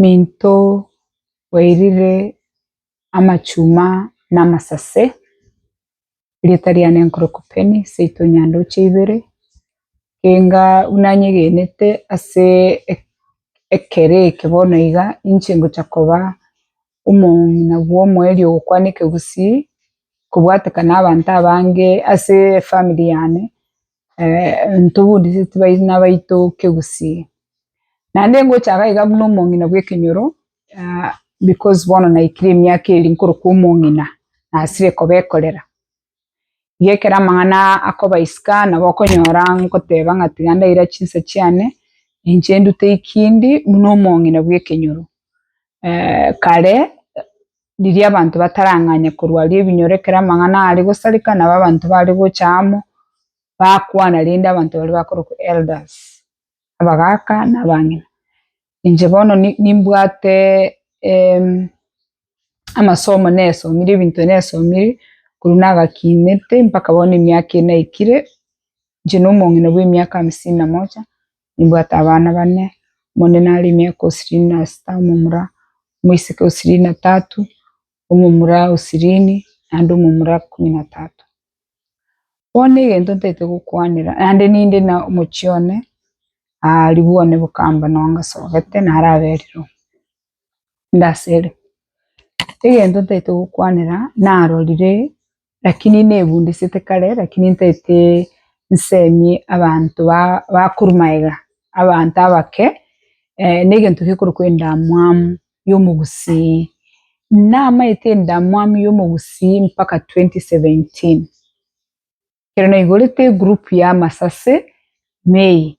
Minto bwairire amachuma na amasase, erieta riane nkoroku Penny, seito nyandoche ibere, enga buna nyegenete ase ekero eke bono iga, inche ngocha koba omong'ina bwa omoerio ogokwana ekegusii, kobwatekana abanto abange ase efamiri yane, ntobudiseti baina baito kegusii, naende ngocha iga iga buna omong'ina bw'ekenyoro, because bono naikire emiaka eri nkorokwa omong'ina, nasire kobekorera, iga ekero amang'ana akoba isiko nabo okonyora ngoteba ng'a tiga ndaira chinsa chiane, inche ndute ekindi buna omong'ina bw'ekenyoro kare. riria abanto batarang'anya korwa aria ebinyoro ekero amang'ana are gosareka nabo abanto bare gocha amo, bakwana rende abanto baria bakorokwa elders, abagaka na abang'ina. Inche bono ni- nimbwate amasomo nesomire ebinto nesomire korwa nagakiinete mpaka bono emiaka ere naikire, inche na omong'ina bwa emiaka hamsini na moja, nimbwate abana bane, omonene are emiaka o sirini na sita, omomura omoiseke o sirini na tatu, omomura o sirini naende omomura ikomi na tatu. Bono egento ntagete gokwanera naende ninde na omochie one aa ribwo one bokamba noo ngasogete naro aberire oo ndasere. Egento ntagete gokwanera narorire Lakini nebundisete kare, lakini ntaete nsemi abanto ba- bakorwa maega, abanto abake, negento gekorokwa endamwamu y'omogusii. Namaete endamwamu y'omogusii mpaka twenty seventeen, ekero naigorete egroup y'amasase May,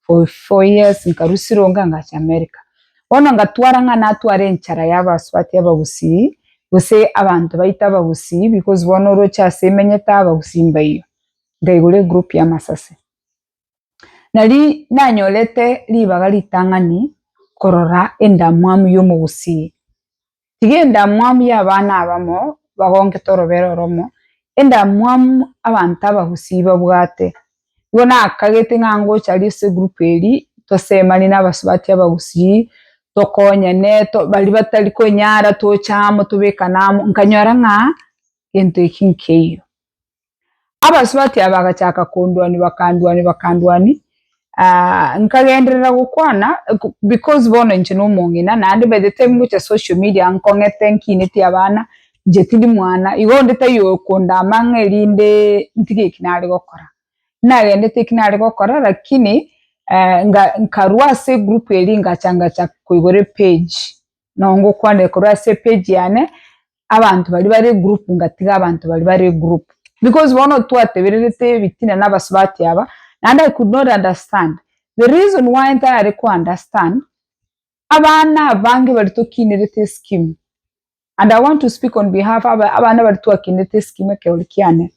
for four years nkarusia ronga ngacha America. Bono ngatwara ng'a natware enchara ya abasubati abagusii, gose abanto baito abagusii because bono oroche ase emenyete abagusii mbaiyo. Nkaigura egroup ya masase. Nario nanyorete ribaga ritang'ani korora endamwamu ya omogusii. Tiga endamwamu y'abana abamo bagongete orobera oromo, endamwamu abanto abagusii babwate. Igo nakagete ng'a ngocha aria ase egroup eria, tosemani na abasubati abagusii, tokonyane, to baria batari konyara toche amo tobekane amo, nkanyora ng'a gento eki nkeiyo. Abasubati aba bagachaka konduania bakanduania bakanduania aah nkagenderera gokwana because bono inche na omong'ina naende by the time ngocha social media nkong'ete nkineti abana inche tindi mwana igo onde taiyo okondama ng'a erinde ntige eki nare gokora. Nagendete eki nare gokora lakini eeh nkarwa ase egroup eria ngacha ngacha koigora epage. nongokwanere korwa ase epage yane, abanto baria bare egroup ngatiga abanto baria bare egroup, because bono twatebererete ebitina na abasubati aba, naende I could not understand, the reason why ntarare ko understand, abana abange baria tokinerete escheme, and I want to speak on behalf aba abana baria twakinerete escheme ekerogo kiane,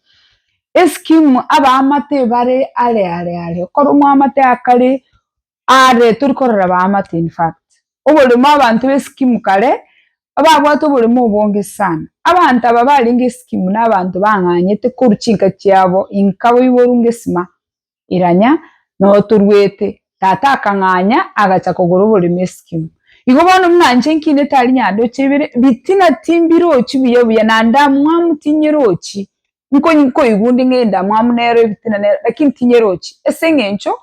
escheme abaamate bare are are are, okore omoamate akare. Aare tori korora baamate in fact. Oboremo abanto b'eskimu kare ababwate oboremo obonge sana. Abanto aba barenge eskimu na abanto bang'anyete koru chinka chiabo inka boiboru ngesima iranya noo toruete. Tata akang'anya agacha kogora oboremo eskimu. Igo bono buna nche nkinete aria nyandoche ibere, bitina timbirochi buya buya nande amwamu tinyirochi Nkonyi nkoigunde ng'a endamwamu nero ebitina nero, lakini tinyerochi, ase eng'encho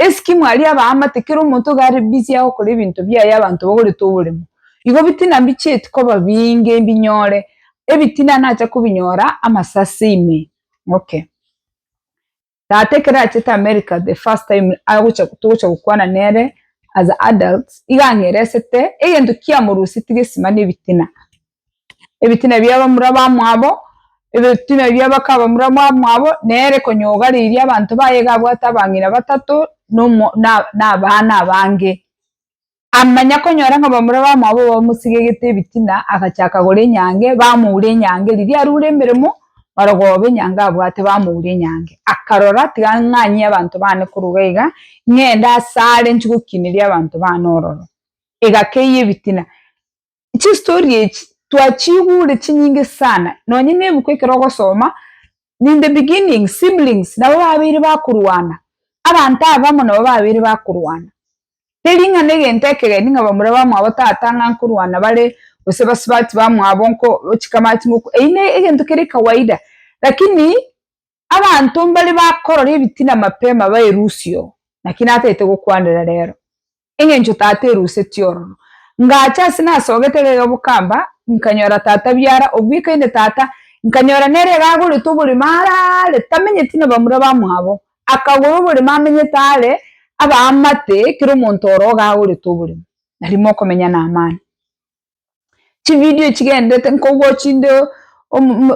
esiki mwari abaamate kera omonto iga are busy agokora ebinto biaye abanto bagorete oboremo. Igo bitina mbichieti koba binge mbinyore, ebitina nacha kobinyora amasase ime. Okay. Tata ekero achete America the first time agocha togocha gokwana nere as adults, iga ang'eresete egento kiamorusetirie esimani ebitina. Ebitina bia abamura bamwabo, ebitina bia abaka abamura bamwabo, nere konya ogareirie abanto baye iga abwate abang'ina batato, na omo na na abana abange. Amanya konyora ng'a bamura bamwabo bamosigegete ebitina, agacha akagora enyange, bamoura enyange. Riria arure emeremo, marogoba enyange abwate bamoura enyange. Akarora, tiga ng'anyie abanto baane koruga iga, ng'ende asare nchigokineria abanto baane ororo. Egakeyia ebitina. Chistori echi twachiigure chinyinge sana, nonya na ebuku ekero ogosoma, in the beginning siblings nabo babeire bakorwana, abanto abamo nabo babeire bakorwana. Teri ng'a na egento ekegeni ng'a bamura bamwabo tata ng'a nkorwana bare gose basubati bamwabo nko chikamati ngoko, eyio na egento kere kawaida, rakini Abanto mbare bakorora ebitina mapema baerusie oo, naki natagete gokwanera reero, engencho Tata eruseti ororo. Ngacha ase nasogete egega bokamba, nkanyora Tata biara, obwekaine Tata, nkanyora nere iga agorete oborimo are aare, tamenyeti na bamura bamwabo, akagora oborimo amenyete aare, abaamate kera omonto oro iga agorete oborimo, na rimo okomenya na amani. Chividio echi chigendererete nkobua chinde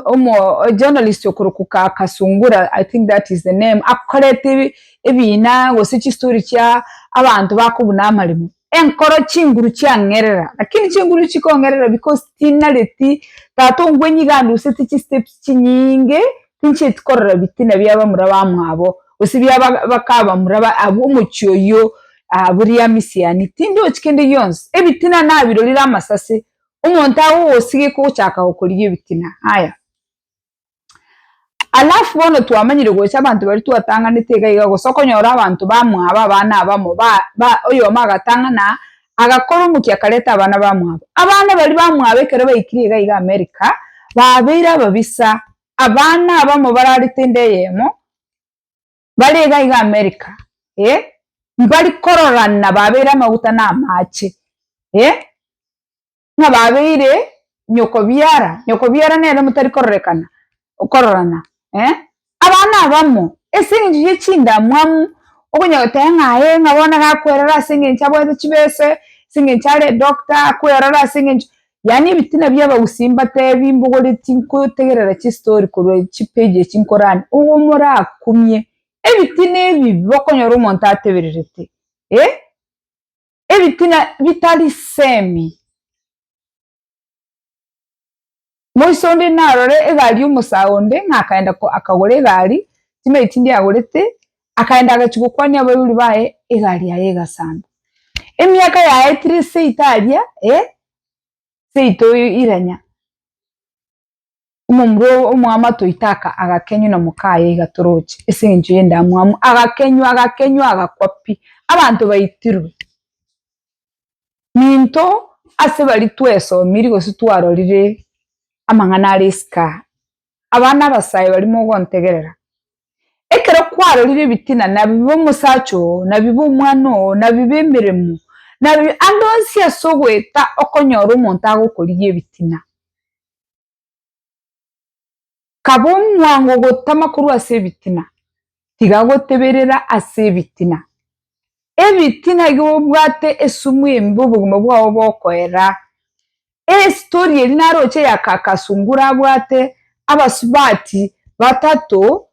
omojournalist okorokwa Kasungura I think that is the name akorete ebina gose chistory chia abanto bakobuna amaremo enkoro chinguru chiang'erera lakini chinguru echi chikong'erera because tinareti tata ongwe nigo anduseti chisteps chinyinge Tinchieti korora bitina bia bamura bamwabo, gose bia bakabamura b'omochie oyio, aa, bori amisiani. Tindochi kende gionsi. Ebitina nabirorire amasase. Omonto agogosigeka ogochaka gokorigia ebitina. Haya. Alafu bono twamanyire gocha abanto baria twatang'anete iga iga, gose okonyora abanto bamwabo abana abamo ba, ba, oyomo agatang'ana Agakora omokia akareta abana bamwabo. Abana baria bamwabo ekero baikirie iga iga Amerika, babeire ababisa. Abana abamo barare tenda eyemo, bare iga iga Amerika, eh, mbari kororana babeire amaguta na amache, eh. Ng'a babeire nyokobiara, nyokobiara nere motari kororekana, okororana, eh, abana abamo, ase engencho ye chindamwamu, okonyora goteba ng'a aye ng'a bono gakwerora ase engencho abwate chibese, ase engencho are edoctor, akwerora ase engencho, yaani ebitina bia abagusii mbatebi mbogoreti nkotegerera chistori korwa chipage echi nkorande, obo morakumie, ebitina ebi bokonyora omonto atebererete, eh. Ebitina bitari semi. Moiso onde narore egari y'omosae onde, ng'a akaenda akagora egari, chimeri chinde agorete, akaenda agachia gokwania abaibori baye, egari yaye egasamba. Emiaka yaetire seito aria, eh, seito iranya. Omomura obo omwamo atoite aka, agakenywa na mokaye iga toroche ase engencho y'endamwamu, agakenywa, agakenywa, agakwa pi. Abanto baitirwe. Minto ase bari twesomiri gose twarorire amang'ana are isiko aa, abana abasae bari mogontegerera, Ekero kwarorire ebitina, na bibe omosacha oo, na bibe omwana oo, na bibe emeremo, na bibe ande onsi ase ogoeta okonyora omonto agokorigia ebitina. Kaba omwango gotama korwa ase ebitina, tiga goteberera ase ebitina. Ebitina iga obwate esumu embe obogima bwao bokoera. Esitori eri naroche ya kaka sungura abwate abasubati batato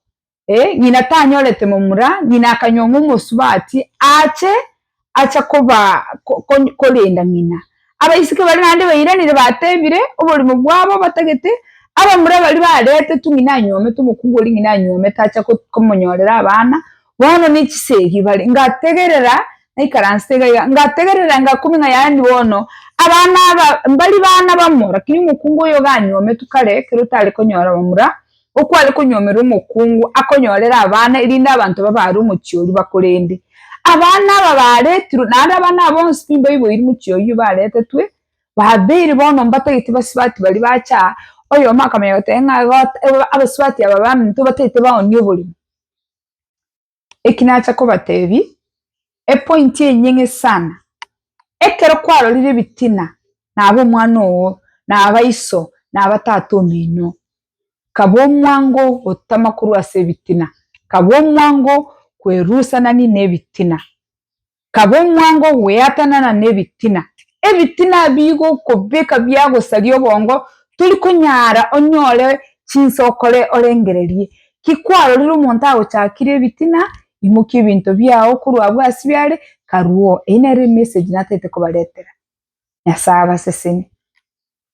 eh ng'ina tanyorete momura ng'ina akanyong'o omosubati ache acha koba korenda ng'ina abaiseke baria naende bairanire batebire oborimo bwabo batagete abamura baria baretetwe ng'ina anyomete omokungu oria ng'ina anyomete acha komonyorera abana Bono ne chisegi bare, ngategerera, naikaransete iga iga, ngategerera engakumia ng'a yaani bono abana aba mbari bana bamo, rakini omokungu oyo ganyometwe kare ekero tare konyora bamura, okware konyomera omokungu akonyorere abana erinde abanto babe are omochie oria bakorende. Abana aba baretirwe, naende abana aba bonsi pi mbaiboiri mochie oyio baretetwe, babeire bono mbatagete basibati baria bache aa, oyomo akamanya goteba ng'a abasibati aba baminto batagete baonie oborimo. eki nacha kobatebia, epointi enyeng'e sana, ekero kwarorire ebitina naba omwana oo, naba iso, naba tata ominto, kaba omwango gotama korwa ase ebitina, kaba omwango kwerusana nini nebitina. kaba omwango ogweatanana nebitina. Ebitina ebi igo okobeka biagosaria obongo tori konyara onyore chinsa okore orengererie. Ki kwarorire omonto agochakire ebitina? Imokia ebinto biao korwa abwo ase biare karwo. Eyio nere emessage natete kobaretera. Nyasae abaseseni.